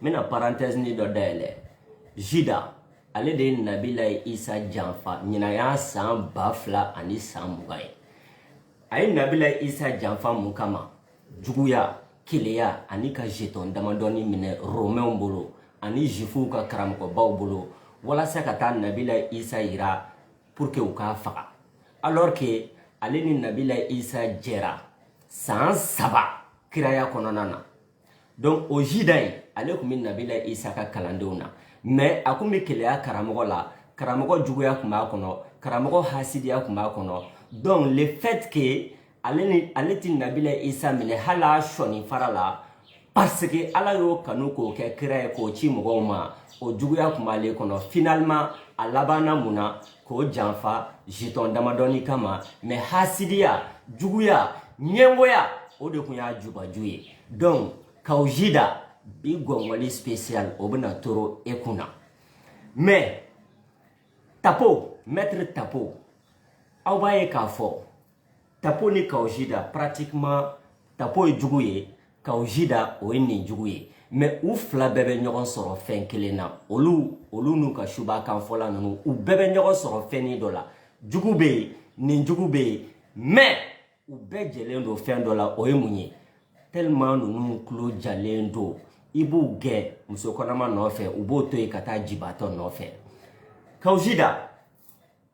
n bɛna parenthèse ni dɔ dayɛlɛ jida ale de ye nabila isa janfa ɲinan y'a san ba fila ani san mugan ye a ye nabila isa janfa mun kama juguya keleya ani ka jetɔn damadɔni minɛ romɛnw bolo ani jifuw ka karamɔgɔbaw bolo walasa ka taa nabila isa yira pour que u k'a faga alors que ale ni nabila isa jɛra san saba kiraya kɔnɔna na donc o jida in ale tun bɛ nabila isa ka kalandenw na mais a tun bɛ keleya karamɔgɔ la karamɔgɔ juguya tun b'a kɔnɔ karamɔgɔ hasidiya tun b'a kɔnɔ donc le fait que ale tɛ nabila isa minɛ hali a sɔni fara la parce que ala y'o kanu k'o kɛ kira ye k'o ci mɔgɔw ma o juguya tun b'ale kɔnɔ finalement a labanna mun na k'o janfa jetɔn damadɔni kama mais hasidiya juguya ɲɛngoya o de tun y'a jubaju ye donc kaw jida bi gɔngɔli spécial o bɛna toro e kun na mais tapo maître tapo aw b'a ye k'a fɔ tapo ni kaw jida pratiquement tapo ye jugu ye kaw jida o ye nijugu ye mais u fila bɛɛ bɛ ɲɔgɔn sɔrɔ fɛn kelen na olu n'u ka suba kan fɔla ninnu u bɛɛ bɛ ɲɔgɔn sɔrɔ fɛnni dɔ la jugu bɛ yen nijugu bɛ yen mais u bɛɛ jɛlen don fɛn dɔ la o ye mun ye tellement ninnu tulo jalen don i b'u gɛn muso kɔnɔma nɔfɛ u b'o to yen ka taa jibatɔ nɔfɛ kaw jida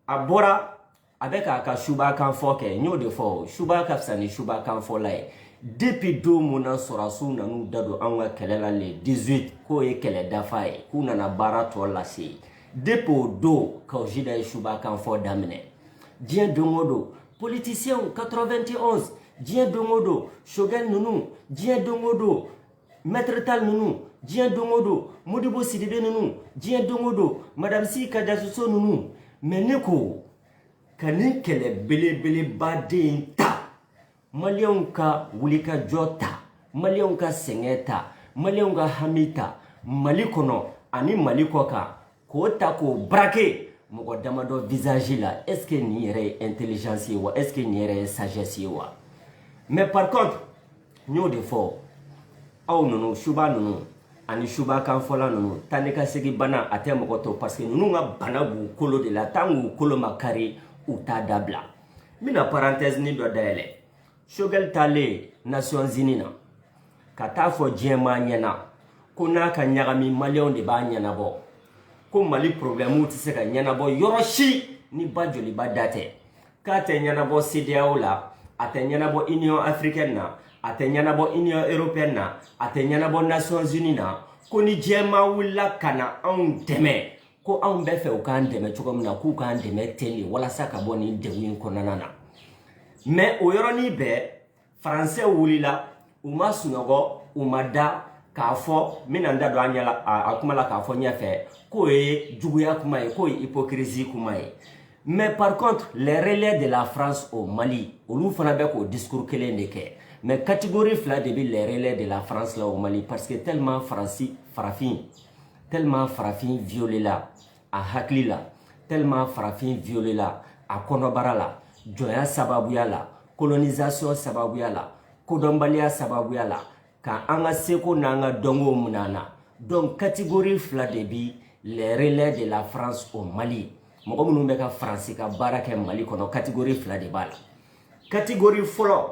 a bɔra a bɛ k'a ka suba kan fɔ kɛ n y'o de fɔ suba ka fisa ni suba kan fɔla ye depuis don mun na sɔrɔdasiw nan'u da don anw ka kɛlɛ la le 18 k'o ye kɛlɛ dafa ye k'u nana baara tɔ lase depuis o don kaw jida ye suba kan fɔ daminɛ diɲɛ don o don politisiɛnw 91 diɲɛ don o don sogɛl ninnu diɲɛ don o don maître tall ninnu diɲɛ don o don modibo sidibe ninnu diɲɛ don o don madame si kajatu so ninnu mais ne ko ka nin kɛlɛ belebeleba den in ta maliyɛnw ka wulikajɔ ta maliyɛnw ka sɛgɛn ta maliyɛnw ka hami ta mali kɔnɔ ani mali kɔ kan K'o ta k'o braquer mɔgɔ damadɔ visage la est ce que nin yɛrɛ ye intelligence ye wa est ce que nin yɛrɛ ye sagesse ye wa mais par contre n y'o de fɔ aw ninnu suba ninnu ani suba kanfɔla ninnu taa ni ka segin bana a tɛ mɔgɔ tɔ parce que ninnu ka bana b'u kolo de la tant k'u kolo ma kari u t'a dabila n bɛna parenthèse ni dɔ dayɛlɛ sogɛli taalen nations unies na ka t'a fɔ diɲɛmaa ɲɛna ko n'a ka ɲagami maliyɛnw de b'a ɲɛnabɔ ko mali porobilɛmuw tɛ se ka ɲɛnabɔ yɔrɔ si ni ba joliba da tɛ k'a tɛ ɲɛnabɔ cedeao la a tɛ ɲɛnabɔ union africaine na a tɛ ɲɛnabɔ union européenne na a tɛ ɲɛnabɔ nations unies na ko ni diɲɛmaa wulila ka na anw dɛmɛ ko anw bɛ fɛ u k'an dɛmɛ cogo min na k'u k'an dɛmɛ ten de walasa ka bɔ nin degun in kɔnɔna na mais o yɔrɔnin bɛɛ faransɛ wulila u ma sunɔgɔ u ma da k'a fɔ n bɛna n da don a ɲɛ la a kuma la k'a fɔ ɲɛfɛ k'o ye juguya kuma ye k'o ye hypocrisie kuma ye mais par contre les relais de la France au Mali olu fana bɛ k'o discours kelen de kɛ mais catégorie fila de bɛ les relais de la France la au Mali parce que tellement farafin violela a hakili la tellement farafin violela a kɔnɔbara la jɔnya sababuya la colonisation sababuya la kodɔnbaliya sababuya la ka an ka seko n'an ka dɔnkow min'an na donc catégorie fila de bi les relais de la France au Mali mɔgɔ minnu bɛ ka faransi ka baara kɛ mali kɔnɔ catégorie fila de b'a la catégorie fɔlɔ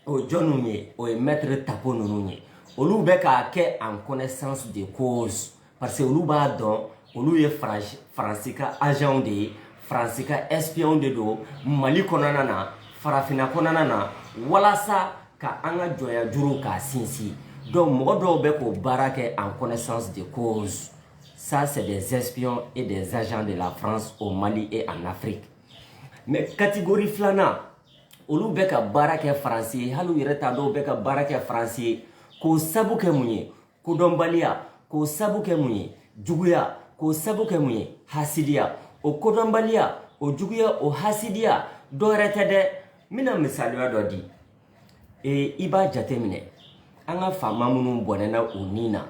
o jɔnniw ye o ye maître tapo ninnu ye olu bɛ k'a kɛ en connaissance de cause parce que olu b'a dɔn olu ye faransi ka agentw de ye faransi ka espionw de don mali kɔnɔna na farafinna kɔnɔna na walasa ka an ka jɔnya juru k'a sinsin donc mɔgɔ dɔw bɛ k'o baara kɛ en connaissance de cause ça c'est des espions et des agents de la france au mali et en afrique mais catégorie filanan olu bɛ ka baara kɛ faransi ye hali u yɛrɛ t'a dɔn u bɛ ka baara kɛ faransi ye k'o sabu kɛ mun ye kodɔnbaliya k'o sabu kɛ mun ye juguya k'o sabu kɛ mun ye hasidiya o kodɔnbaliya o juguya o hasidiya dɔ wɛrɛ tɛ dɛ n bɛna misaliya dɔ di ee i b'a jateminɛ an ka faama minnu bɔnɛna u ni na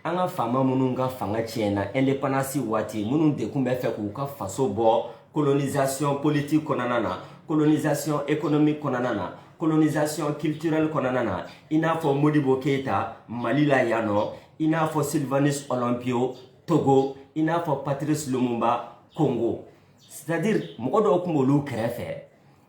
an ka faama minnu ka fanga tiɲɛna indépendance waati minnu de kun bɛ fɛ k'u ka faso bɔ colonisation politique kɔnɔna na colonisation économique kɔnɔna na colonisation culturelle kɔnɔna na i n'a fɔ modibo keyita mali la yan nɔ i n'a fɔ sylvanus olympio togo i n'a fɔ patrice lumumba congo c'est à dire mɔgɔ dɔw kun b'olu kɛrɛfɛ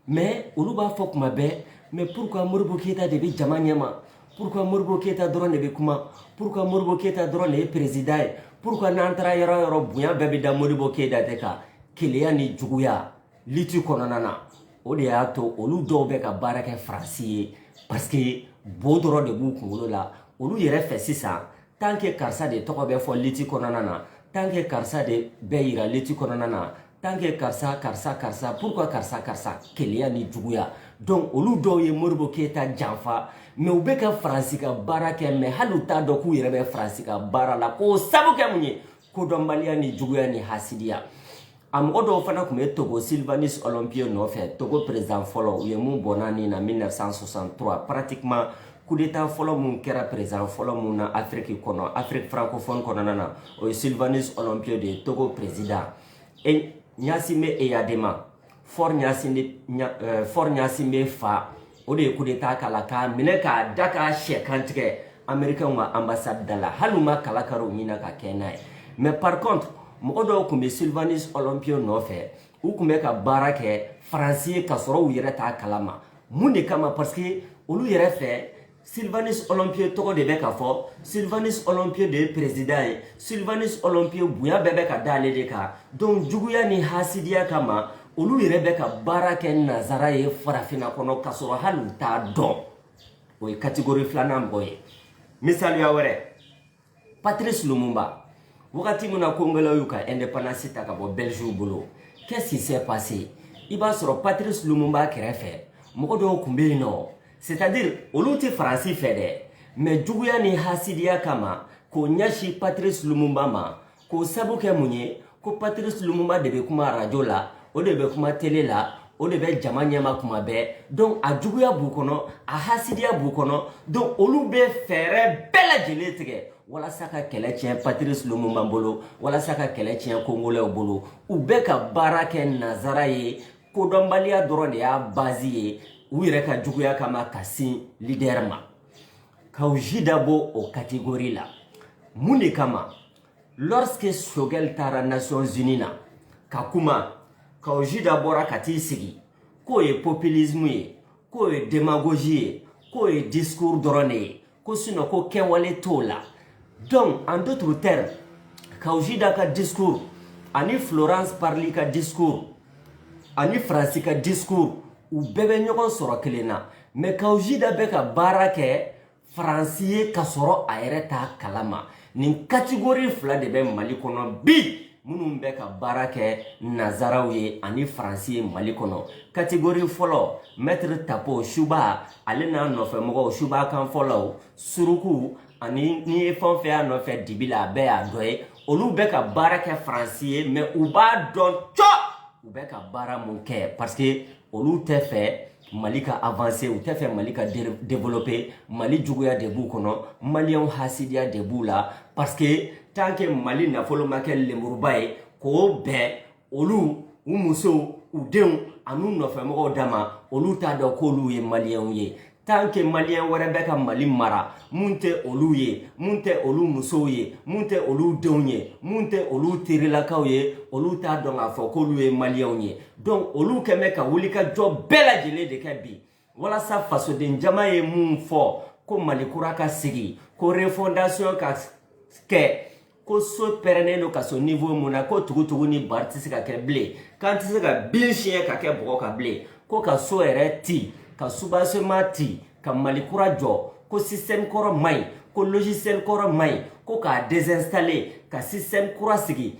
mais olu b'a fɔ kuma bɛɛ mais pourquoi modibo keyita de bɛ jama ɲɛma pourquoi modibo keyita dɔrɔn de bɛ kuma pourquoi modibo keyita dɔrɔn de ye président ye pourquoi n'an taara yɔrɔ yɔrɔ bonya bɛɛ bɛ da modibo keyita de kan keleya ni juguya lutte kɔnɔna na o de y'a to olu dɔw bɛ ka baara kɛ faransi ye parce que bo dɔrɔn de b'u kunkolo la olu yɛrɛ fɛ sisan tant que karisa de tɔgɔ bɛ fɔ lutte kɔnɔna na tant que karisa de bɛ yira lutte kɔnɔna na tant que karisa karisa karisa pourquoi karisa karisa keleya ni juguya donc olu dɔw ye modibo keyita janfa mais u bɛ ka faransi ka baara kɛ mais hali u t'a dɔn k'u yɛrɛ bɛ faransi ka baara la k'o sabu kɛ mun ye kodɔnbaliya ni juguya ni hasidiya a mɔgɔ dɔw fana tun bɛ togo sylvanus olympio nɔfɛ togo perezidan fɔlɔ u ye min bɔnɛ a nin na 1963 pratiquement kudeta fɔlɔ min kɛra perezidan fɔlɔ min na afiriki kɔnɔ afiriki francophone kɔnɔna na o ye sylvanus olympio de ye togo perezidan e gnassingbé eyadema faure gnassingbé fa o de ye kudeta k'a la k'a minɛ k'a da ka cɛ kantigɛ amerikɛnw ka anbasadi da la hali u ma kala kari u ɲin na ka kɛ n'a ye mais par contre mɔgɔ dɔw tun bɛ sylvanus olympio nɔfɛ u tun bɛ ka baara kɛ faransi ye ka sɔrɔ u yɛrɛ t'a kalama mun de kama parce que olu yɛrɛ fɛ Sylvanus Olympio tɔgɔ de bɛ ka fɔ Sylvanus Olympio de ye président ye Sylvanus Olympio bonya bɛɛ bɛ ka da ale de kan donc juguya ni hasidiya kama olu yɛrɛ bɛ ka baara kɛ nazara ye farafinna kɔnɔ ka sɔrɔ hali u t'a dɔn o ye catégorie filanan mɔgɔ ye misaliya wɛrɛ Patrice Lumumba wagati min na Kongolɛw y'u ka indépendance ta ka bɔ Belgique bolo qu'est-ce qui s'est passé i b'a sɔrɔ Patrice Lumumba kɛrɛfɛ mɔgɔ dɔw tun bɛ yen nɔ c'est-à-dire olu tɛ Faransi fɛ dɛ mais juguya ni hasidiya kama k'o ɲɛsin Patrice Lumumba ma k'o sabu kɛ mun ye ko patrice lumumba de bɛ kuma arajo la o de bɛ kuma tele la o de bɛ jama ɲɛma kuma bɛɛ donc a juguya b'u kɔnɔ a hasidiya b'u kɔnɔ donc olu bɛ fɛɛrɛ bɛɛ lajɛlen tigɛ walasa ka kɛlɛ tiɲɛ patrice lumumba bolo walasa ka kɛlɛ tiɲɛ kongolɛw bolo u bɛ ka baara kɛ nazara ye kodɔnbaliya dɔrɔn de y'a bazi ye u yɛrɛ ka juguya kama ka sin lidɛrɛ ma lorsque Choguel taara Nations Unies na ka kuma Kaou Djida bɔra ka t'i sigi k'o ye populisme ye k'o ye demagogie ye k'o ye discours dɔrɔn de ye ko sinon ko kɛwale t'o la donc en d'autres termes Kaou Djida ka discours ani Florence Parly ka discours ani faransi ka discours u bɛɛ bɛ ɲɔgɔn sɔrɔ kelen na mais kaou djida bɛ ka baara kɛ faransi ye ka sɔrɔ a yɛrɛ t'a kalama nin katigori fila de bɛ mali kɔnɔ bi minnu bɛ ka baara kɛ nazaraw ye ani faransi ye mali kɔnɔ katigori fɔlɔ maître tapo suba ale n'a nɔfɛmɔgɔw suba kan fɔlɔw surukuw ani n'i ye fɛn fɛn y'a nɔfɛ dibi la a bɛɛ y'a dɔ ye olu bɛ ka baara kɛ faransi ye mais u b'a dɔn cɔ u bɛ ka baara mun kɛ parce que olu tɛ fɛ mali ka avancer u tɛ fɛ mali ka développer mali juguya de b'u kɔnɔ maliyɛnw hasidiya de b'u la parce que tant que mali nafolo ma kɛ lemuruba ye k'o bɛn olu u musow u denw an'u nɔfɛmɔgɔw dama olu t'a dɔn k'olu ye maliyɛnw ye tant que maliyɛn wɛrɛ bɛ ka mali mara mun tɛ olu ye mun tɛ olu musow ye mun tɛ olu denw ye mun tɛ olu terilakaw ye olu t'a dɔn k'a fɔ k'olu ye maliyɛnw ye donc olu kɛn bɛ ka wulikajɔ bɛɛ lajɛlen de kɛ bi walasa fasoden jama ye mun fɔ ko mali kura ka sigi ko refondation ka kɛ ko so pɛrɛnnen don ka se niveau mun na ko tugutugu ni bari tɛ se ka kɛ bilen k'an tɛ se ka bin siɲɛ ka kɛ bɔgɔ kan bilen ko ka so yɛrɛ ti ka soubassement ti ka mali kura jɔ ko système kɔrɔ man ɲi ko logiciel kɔrɔ man ɲi ko k'a désinstaller ka système kura sigi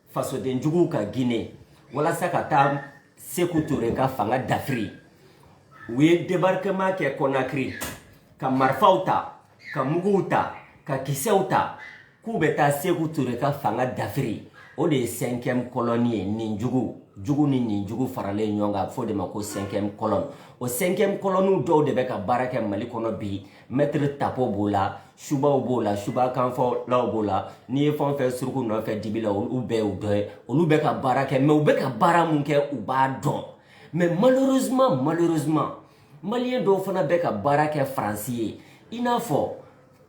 fasodenjuguw ka gine walasa ka taa seku ture ka fanga dafiri u ye débarquement kɛ konakiri ka marifaw ta ka muguw ta ka kisɛw ta k'u bɛ taa seku ture ka fanga dafiri o de ye cinquième colonne ye nin jugu jugu ni nin jugu faralen ɲɔgɔn kan fɔ o de ma ko cinquième colonne o cinquième colonnew dɔw de bɛ ka baara kɛ mali kɔnɔ bi maître tapo b'o la subaw b'o la suba kanfɔlaw b'o la n'i ye fɛn o fɛn suruku nɔfɛ dibi la olu bɛɛ y'u dɔ ye olu bɛ ka baara kɛ mais u bɛ ka baara mun kɛ u b'a dɔn mais malheureusement malheureusement maliyɛn dɔw fana bɛ ka baara kɛ faransi ye i n'a fɔ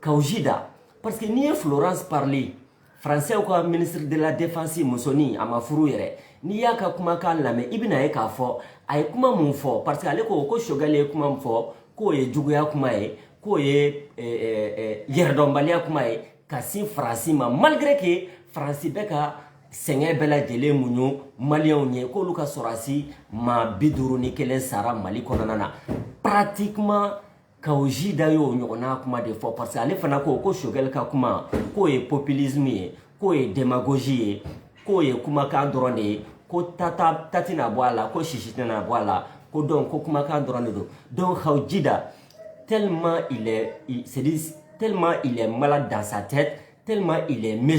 kawu jida parce que n'i ye florence parly Français ka ministre de la défense musonin a ma furu yɛrɛ n'i y'a ka kumakan lamɛn i bɛna ye k'a fɔ a ye kuma mun fɔ parce que ale ko ko Choguel ye kuma min fɔ k'o ye juguya kuma ye k'o ye eh, eh, eh, yɛrɛdɔnbaliya kuma ye ka sin Faransi ma malgré que Faransi bɛ ka sɛgɛn bɛɛ lajɛlen muɲu maliyɛnw ye k'olu ka sɔrɔdasi maa bi duuru ni kelen sara Mali kɔnɔna na pratiquement Ka ji da y ye oo ɲɔgɔnna kuma de fɔ parce que ale fana ko ko sokɛkɛ ka kuma k'o ye ppiliz ye k'o ye dɛmɛgosi ye k'o ye kumakan dɔrɔn de ye ko tata tati n'a bɔ a la ko sisi tɛna bɔ a la ko dɔn ko kumakan dɔrɔn de don dɔw ha ji da te te ma dansa tɛ te ma mi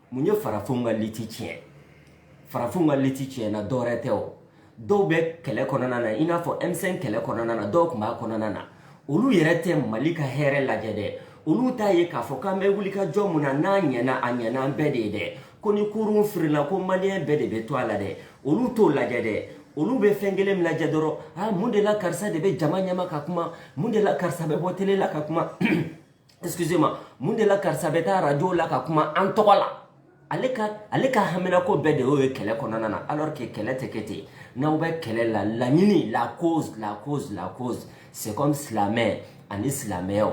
mun ye farafinw ka liti tiɲɛ farafinw ka liti tiɲɛna dɔwɛrɛ tɛ o dɔw bɛ kɛlɛ kɔnɔna na i n'a fɔ m5 kɛlɛ kɔnɔna na dɔw tun b'a kɔnɔna na olu yɛrɛ tɛ mali ka hɛrɛ lajɛ dɛ olu t'a ye k'a fɔ k'an bɛ wuli ka jɔ mun na n'a ɲɛna a ɲɛna an bɛɛ de ye dɛ ko ni kurun firila ko maliyɛn bɛɛ de bɛ to a la dɛ olu t'o lajɛ dɛ olu bɛ fɛn kelen min lajɛ dɔrɔn a mun de la karisa de bɛ jama ɲɛma ka kuma mun de la karisa bɛ bɔ télé la ka kuma excusez-moi mun de la karisa bɛ taa radio la ka kuma an tɔgɔ la ale ka ale ka haminako bɛɛ de y'o ye kɛlɛ kɔnɔna na alors que kɛlɛ tɛ kɛ ten n'aw bɛ kɛlɛ la laɲini la cause la cause la cause c'est comme silamɛ ani silamɛyaw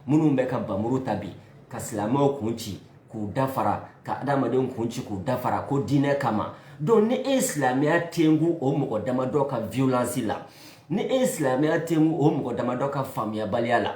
minnu bɛ ka bamuru ta bi ka silamɛw kun ci k'u dafara ka adamadenw kun ci k'u dafara ko diinɛ kama donc ni e ye silamɛya tengu o mɔgɔ damadɔ ka violence la ni e ye silamɛya tengu o mɔgɔ damadɔ ka faamuyabaliya la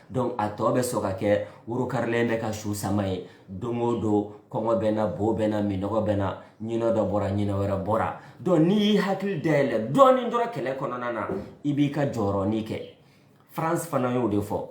donc a tɔ bɛ sɔrɔ ka kɛ worokarilen bɛ ka su sama ye don o don kɔngɔ bɛ na bo bɛ na minɔgɔ bɛ na ɲinɛ dɔ bɔra ɲinɛ wɛrɛ bɔra donc n'i y'i hakili dayɛlɛ dɔɔnin dɔrɔn kɛlɛ kɔnɔna na i b'i ka jɔyɔrɔnin kɛ frantz fanon y'o de fɔ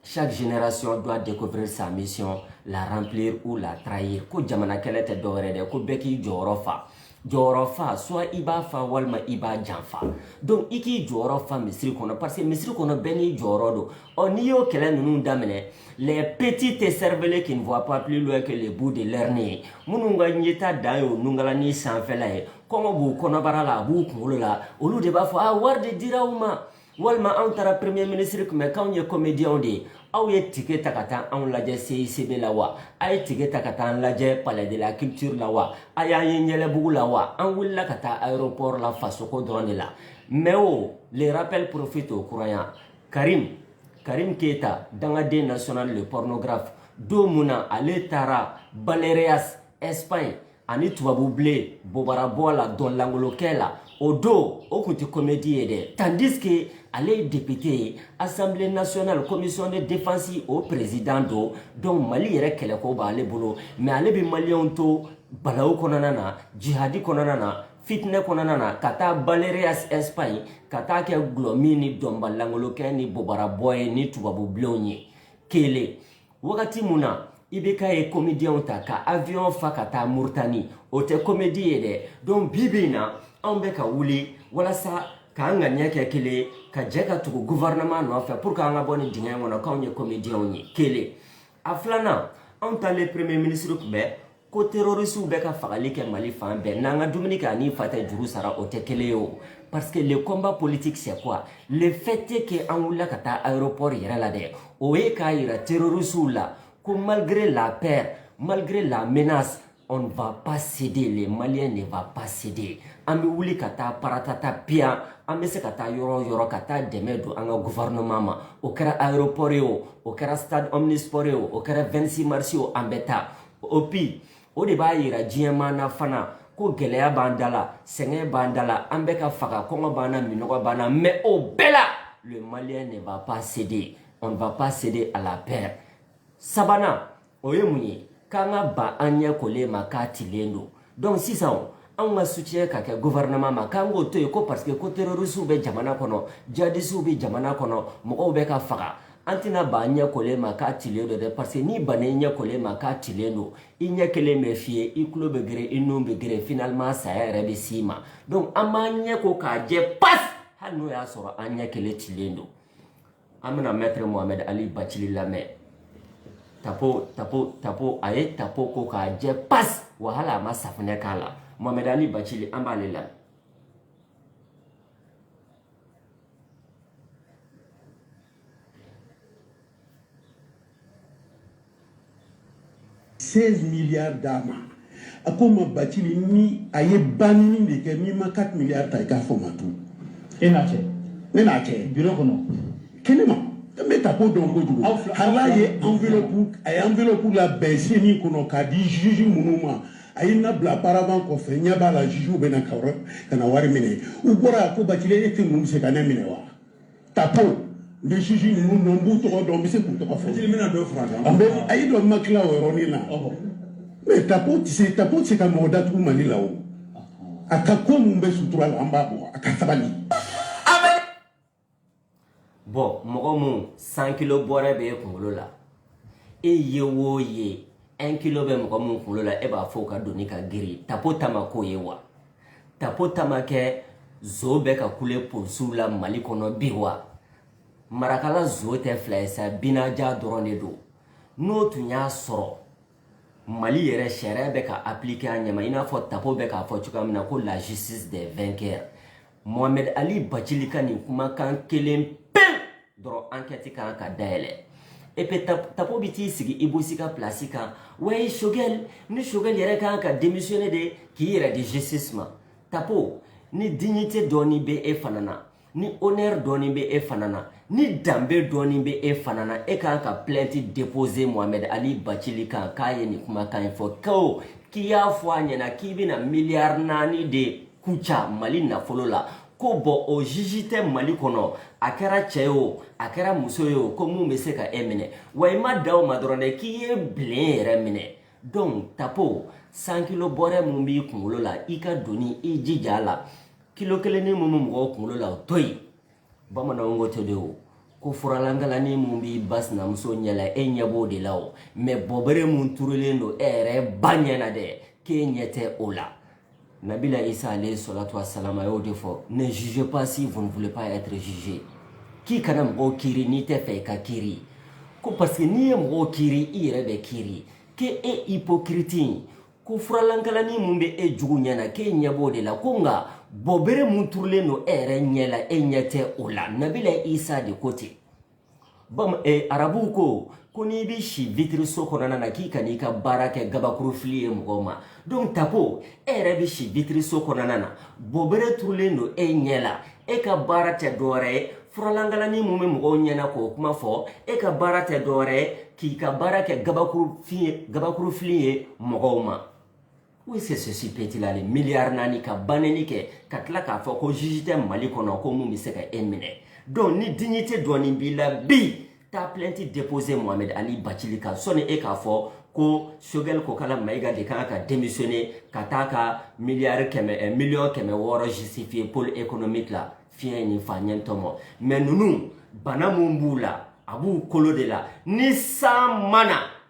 chaque génération doit découvrir sa mission la remplir ou la trahir ko jamana kɛlɛ tɛ dɔwɛrɛ dɛ ko bɛɛ k'i jɔyɔrɔ fa jɔyɔrɔ fa soit i b'a fa walima i b'a janfa donc i k'i jɔyɔrɔ fa misiri kɔnɔ parce que misiri kɔnɔ bɛɛ n'i jɔyɔrɔ don ɔ n'i y'o kɛlɛ ninnu daminɛ les petits écervelés qui ne voient pas plus loin que le bout de leur nez minnu ka yeta dan y'o nungalanin sanfɛla ye kɔngɔ b'u kɔnɔbara la a b'u kunkolo la olu de b'a fɔ a wari de dira u ma walima anw taara premier ministre kunbɛn k'anw ye comédienw de ye aw ye tike ta ka taa anw lajɛ CICB la wa a ye tike ta ka taa an lajɛ palais de la culture la wa a y'an ye yɛlɛbugu la wa an wulila ka taa aéroport la fasoko dɔrɔn de la mais o le rappel profite aux croyants karim karim keyita dangaden national le pornographe don mun na ale taara baleares espagne ani tubabubilen bobarabɔ la dɔnlankolokɛ la o don o kun tɛ komedi ye dɛ tandis que ale ye depite ye assemblée nationale commission de défense o président don donc mali yɛrɛ kɛlɛko b'ale bolo mais ale bɛ maliyɛnw to balawu kɔnɔna na jihadi kɔnɔna na fitinɛ kɔnɔna na ka taa baleares espagne ka taa kɛ gulɔmin ni dɔnbalankolokɛ ni bobarabɔ ye ni tubabubilenw ye kelen wagati mun na IBK ye komediyɛnw ta ka avion fa ka taa muritani o tɛ komedi ye dɛ donc bi bi in na anw bɛ ka wuli walasa k'an ŋaniya kɛ kelen ka jɛ ka tugu gouvernement nɔfɛ pour que an ka bɔ nin dingɛ in kɔnɔ k'anw ye komediyɛnw ye kelen a filanan anw taalen premier ministre kunbɛn ko terrorisiw bɛ ka fagali kɛ mali fan bɛɛ n'an ka dumuni kɛ ani fa tɛ juru sara o tɛ kelen ye o parce que le combat politique c'est quoi le fait est que an wulila ka taa aéroport yɛrɛ la dɛ o ye k'a yira terrorisiw la ko malgré la peur malgré la menace on ne va pas céder les maliens ne va pas céder an bɛ wuli ka taa paratata piyan an bɛ se ka taa yɔrɔ o yɔrɔ ka taa dɛmɛ don an ka gouvernement ma o kɛra aéroport ye o o kɛra stade omnisport ye o o kɛra 26 mars ye o an bɛ taa et puis o de b'a yira diɲɛ maa na fana ko gɛlɛya b'an da la sɛgɛn b'an da la an bɛ ka faga kɔngɔ b'an na minɔgɔ b'an na mɛ o bɛɛ la le malien ne va pas céder on ne va pas céder à la peur sabanan o ye mun ye k'an ka ban an ɲɛ koli ma k'a tilen don donc sisan anw ka soutien ka kɛ gouvernement ma k'an k'o to yen ko parce que ko terrorisiw bɛ jamana kɔnɔ djihadisiw bɛ jamana kɔnɔ mɔgɔw bɛ ka faga an tɛna ban an ɲɛ koli ma k'a tilen don dɛ parce que n'i banna i ɲɛ koli ma k'a tilen don i ɲɛ kelen bɛ fiyɛ i tulo bɛ geren i nun bɛ geren finalement saya yɛrɛ bɛ s'i ma donc an b'an ɲɛ ko k'a jɛ pas hali n'o y'a sɔrɔ an ɲɛ kelen tilen don an bɛna mɛtiri mohamɛd ali bacili lamɛn tapo tapo tapo a ye tapo ko k'a jɛ pas wa hali a ma safunɛ k'a la mohamɛd ali bacili an b'ale lamɛn 16 milliards d'a ma a ko n ma bacili ni a ye banini de kɛ n'i ma 4 milliards ta i k'a fɔ n ma tu e n'a cɛ ne n'a cɛ biro kɔnɔ kɛnɛ ma n bɛ tapo dɔn kojugu hali a ye enveloppe a ye enveloppe labɛn ceni kɔnɔ k'a di juge minnu ma a ye na bila paravent kɔfɛ ɲɛ b'a la jugew bɛ na ka na wari minɛ u bɔra ko bacili e tɛ ninnu se ka ne minɛ wa tapo le juge ninnu dɔn n b'u tɔgɔ dɔn n bɛ se k'u tɔgɔ fɔ an bɛ a y'i dɔn ma tila o yɔrɔnin na mɛ tapo tɛ se tapo tɛ se ka mɔgɔ datugu mali la o a ka ko min bɛ sutura la an b'a bɔ a ka sabali. bɔn mɔgɔ mun cent kilo bɔrɛ bɛ e kunkolo la e ye o ye un kilo bɛ mɔgɔ mun kunkolo la e b'a fɔ o ka doni ka girin tapo taama k'o ye wa. tapo tama kɛ zo bɛ ka kule polisiw la mali kɔnɔ bi wa marakala zo tɛ fila ye sa binaja dɔrɔn de don n'o tun y'a sɔrɔ mali yɛrɛ sariya bɛ ka appliquer a ɲɛma i n'a fɔ tapo bɛ k'a fɔ cogoya min na ko la justice des vainqueurs mohamed ali bacili ka nin kumakan kelen dɔrɔn ankɛti kan ka dayɛlɛ et puis tapo bɛ t'i sigi i bosi ka pilasi kan wayi sogɛl ni sogɛl yɛrɛ kan ka demisiyone de k'i yɛrɛ di justice ma tapo ni dignité dɔɔni bɛ e fana na ni honneur dɔɔni bɛ e fana na ni danbe dɔɔni bɛ e fana na e kan ka plainte déposer mohamɛd ali bacili kan k'a ye nin kumakan in fɔ ko k'i y'a fɔ a ɲɛna k'i bɛna miliyari naani de kuca mali nafolo la ko bɔn o juge tɛ mali kɔnɔ a kɛra cɛ ye o a kɛra muso ye o ko mun bɛ se ka e minɛ wa i ma dan o ma dɔrɔn dɛ k'i ye bilen yɛrɛ minɛ donc tapo cent kilo bɔrɛ mun b'i kunkolo la i ka doni i jija a la kilo kelenni mun bɛ mɔgɔw kunkolo la o to yen bamananw ko ten de o ko furalankalani mun b'i ba sinamuso ɲɛ la e ɲɛ b'o de la o mais bɔbere mun turulen don e yɛrɛ ba ɲɛ na dɛ k'e ɲɛ tɛ o la Nabila Isa alayhi salatu wassalam a y'o de fɔ ne jugez pas si vous ne voulez pas être jugé k'i kana mɔgɔw kiri n'i tɛ fɛ i ka kiri ko parce que n'i ye mɔgɔw kiri i yɛrɛ bɛ kiri k'e e hypocrite in ko furalankalani mun bɛ e jugu ɲɛ na k'e ɲɛ b'o de la ko nka bɔbere mun turulen don e yɛrɛ ɲɛ la e ɲɛ tɛ o la nabila isa de ko ten Eh, arabuw ko ko n'i bɛ si vitiriso kɔnɔna na k'i kan'i ka baara kɛ gabakurufili ye mɔgɔw ma donc tapo e yɛrɛ bɛ si vitiriso kɔnɔna na bɔbere turulen don e ɲɛ la e ka baara tɛ dɔwɛrɛ ye furalankalani mun bɛ mɔgɔw ɲɛ na k'o kuma fɔ e ka baara tɛ dɔwɛrɛ ye k'i ka baara kɛ gabakurufili ye mɔgɔw ma Ko c'est ceci petila le miliyari naani ka banni kɛ ka tila k'a fɔ ko juge tɛ mali kɔnɔ ko mun bɛ se ka e minɛ donc ni dignité dɔɔni b'i la bi taa plainte déposer mohamed ali bacili kan sɔni e k'a fɔ ko sogɛl kokala mayiga de kan ka démissionner ka taa ka miliyari kɛmɛ eh, miliyɔn kɛmɛ wɔɔrɔ justifier pôle économique la fiɲɛ ni fa ɲɛ tɔmɔ mais ninnu bana mun b'u la a b'u kolo de la ni san mana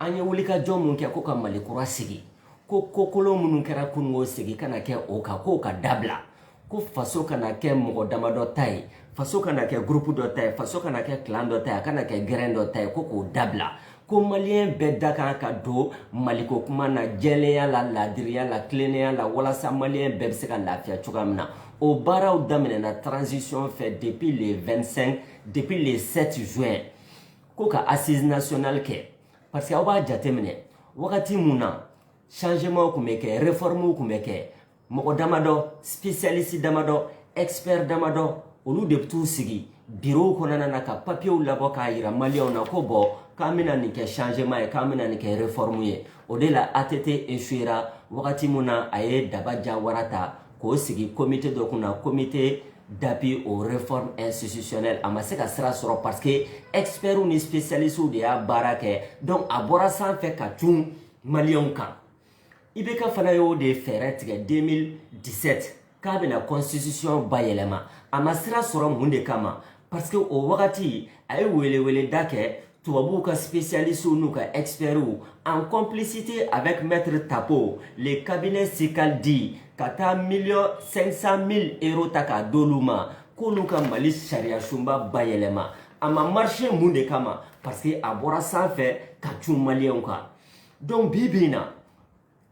an ye wulikajɔ mun kɛ ko ka mali kura sigi ko kokolon minnu kɛra kunun ko sigi kana kɛ o kan k'o ka dabila ko faso kana kɛ mɔgɔ damadɔ ta ye faso kana kɛ gurupu dɔ ta ye faso kana kɛ kilan dɔ ta ye a kana kɛ gɛrɛn dɔ ta ye ko k'o dabila ko maliyɛn bɛɛ da kan ka don maliko kuma na jɛlenya la laadiriya la tilennenya la walasa maliyɛn bɛɛ bɛ se ka lafiya cogoya min na o baaraw daminɛna transition fɛ depuis le 25 depuis le 7 juin ko ka assise nationale kɛ parce que aw b'a jateminɛ wagati mun na changement kun bɛ kɛ réforme kun bɛ kɛ mɔgɔ damadɔ spécialiste damadɔ expert damadɔ olu de bɛ t'u sigi birow kɔnɔna na ka papiyew labɔ k'a yira maliyɛnw na ko bɔn k'an bɛna nin kɛ changement ye k'an bɛna nin kɛ réforme ye o de la ATT échouera wagati mun na a ye daba jawara ta k'o sigi comité dɔ kunna comité d'appui aux réformes institutionnelles a ma se ka sira sɔrɔ parce que experts ni spécialistes de y'a baara kɛ donc a bɔra sanfɛ ka cun maliyɛnw kan IBK fana y'o de fɛɛrɛ tigɛ 2017 k'a bɛna constitution bayɛlɛma a ma sira sɔrɔ mun de kama parce que o wagati a ye weleweleda kɛ tubabuw ka spécialistes n'u ka experts en complicité avec maître Tapo le cabinet Ceccaldi ka taa 1 million 500 000 euros ta k'a d'olu ma k'olu ka Mali sariyasunba bayɛlɛma a ma marché mun de kama parce que a bɔra sanfɛ ka cun maliyɛnw kan donc bi bi in na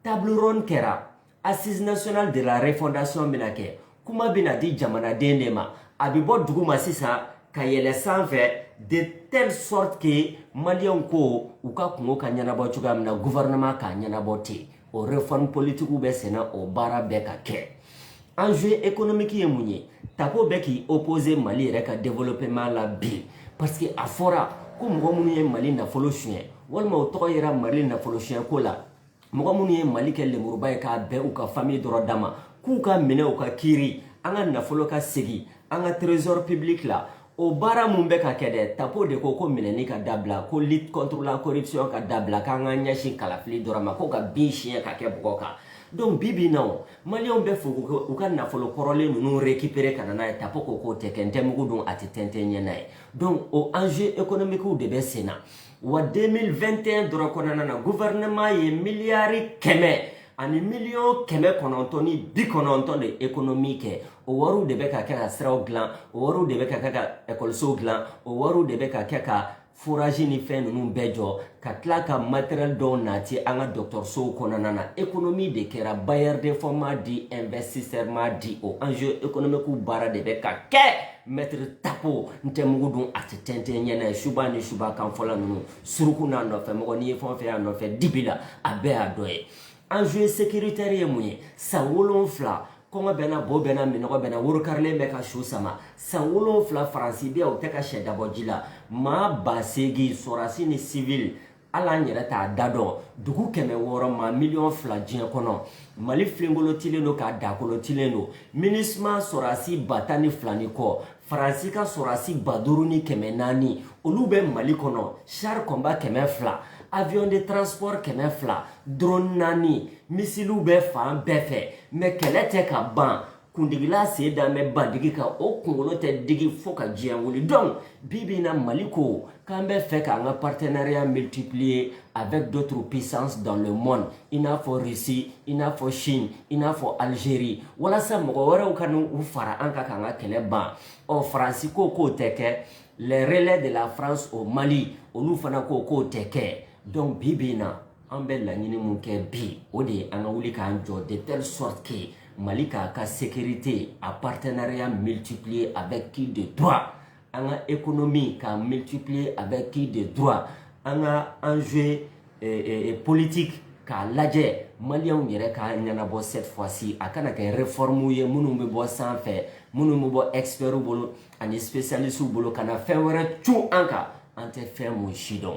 table ronde kɛra assise nationale de la refondation bɛna kɛ kuma bɛna di jamanaden de ma a bɛ bɔ duguma sisan ka yɛlɛ sanfɛ de telle sorte que maliyɛnw ko u ka kunko ka ɲɛnabɔ cogoya min na gouvernement k'a ɲɛnabɔ ten o réforme politique bɛ senna o baara bɛ ka kɛ enjeu économique ye mun ye tapo bɛ k'i opposer mali yɛrɛ ka développement la bi parce que a fɔra ko mɔgɔ minnu ye mali nafolo suɲɛ walima o tɔgɔ yera mali nafolo suɲɛko la mɔgɔ minnu ye mali kɛ lemuruba ye k'a bɛn u ka famille dɔrɔn da ma k'u ka minɛ u ka kiiri an ka nafolo ka segin an ka trésor public la o baara mun bɛ ka kɛ dɛ tapo de ko ko minɛni ka dabila ko lutte contre la corruption ka dabila k'an ka ɲɛsin kalafili dɔrɔn ma ko ka bin siɲɛ ka kɛ bɔgɔ kan donc bi bi na o maliyɛnw bɛ fɛ u ka nafolo kɔrɔlen ninnu récupérer ka na n'a ye tapo ko k'o tɛ kɛ n tɛ mugu dun a tɛ tɛntɛn ɲɛ na ye donc o enjeu économique de bɛ sen na wa 2021 dɔrɔn kɔnɔna na gouvernement ye miliyari kɛmɛ ani miliyɔn kɛmɛ kɔnɔntɔn ni bi kɔnɔntɔn de économie kɛ o wariw de bɛ ka kɛ ka siraw dilan o wariw de bɛ ka kɛ ka ekɔlisow dilan o wariw de bɛ ka kɛ ka forage ni fɛn ninnu bɛɛ jɔ ka tila ka matériel dɔw nati an ka dɔgɔtɔrɔsow kɔnɔna na économie de kɛra bailleur de fonds m'a di investisseur m'a di o enjeu économiquew baara de bɛ ka kɛ maître tapo n tɛ mugu dun a tɛ tɛntɛn ɲɛ na ye suba ni suba kan fɔla ninnu suruku n'a nɔfɛ mɔgɔ n'i ye fɛn o fɛn y'a nɔfɛ dibi la a bɛɛ y'a dɔ ye enjeu sécuritaire ye mun ye san wolonfila kɔngɔ bɛ n na bo bɛ n na minnɔgɔ bɛ n na worokarilen bɛ ka su sama san wolonfila faransi bɛ yan o tɛ ka sɛ da bɔ ji la maa ba seegin sɔrasi ni sivili hali an yɛrɛ t'a da dɔn dugu kɛmɛ wɔɔrɔ maa miliyɔn fila diɲɛ kɔnɔ mali filenkolotilen don k'a dakolotilen don minusma sɔrasi ba tan ni fila ni kɔ faransi ka sɔrasi ba duuru ni kɛmɛ naani olu bɛ mali kɔnɔ char combat kɛmɛ fila avion de transport kɛmɛ fila drone naani misiliw bɛ fan bɛɛ fɛ mais kɛlɛ tɛ ka ban kundigila sen dalen bɛ bandigi kan o kunkolo tɛ digi fo ka diɲɛ wuli donc bi bi in na mali ko k'an bɛ fɛ k'an ka partenariat multiplier avec d'autres puissances dans le monde i n'a fɔ russie i n'a fɔ chine i n'a fɔ algérie walasa mɔgɔ wɛrɛw ka n'u fara an kan k'an ka kɛlɛ ban ɔ faransi ko k'o tɛ kɛ les relais de la france au mali olu fana ko k'o tɛ kɛ donc bi bi in na an bɛ laɲini min kɛ bi o de ye an ka wuli k'an jɔ de telle sorte que mali k'a ka sécurité a partenariat multiplier avec qui de droit an ka économie k'a multiplier avec qui de droit an ka enjeu eh, eh, eh, politique k'a lajɛ maliyɛnw yɛrɛ k'a ɲɛnabɔ cette fois ci a kana kɛ réformew ye minnu bɛ bɔ sanfɛ minnu bɛ bɔ expertw bolo ani spécialistew bolo ka na fɛn wɛrɛ cun an kan an tɛ fɛn mun si dɔn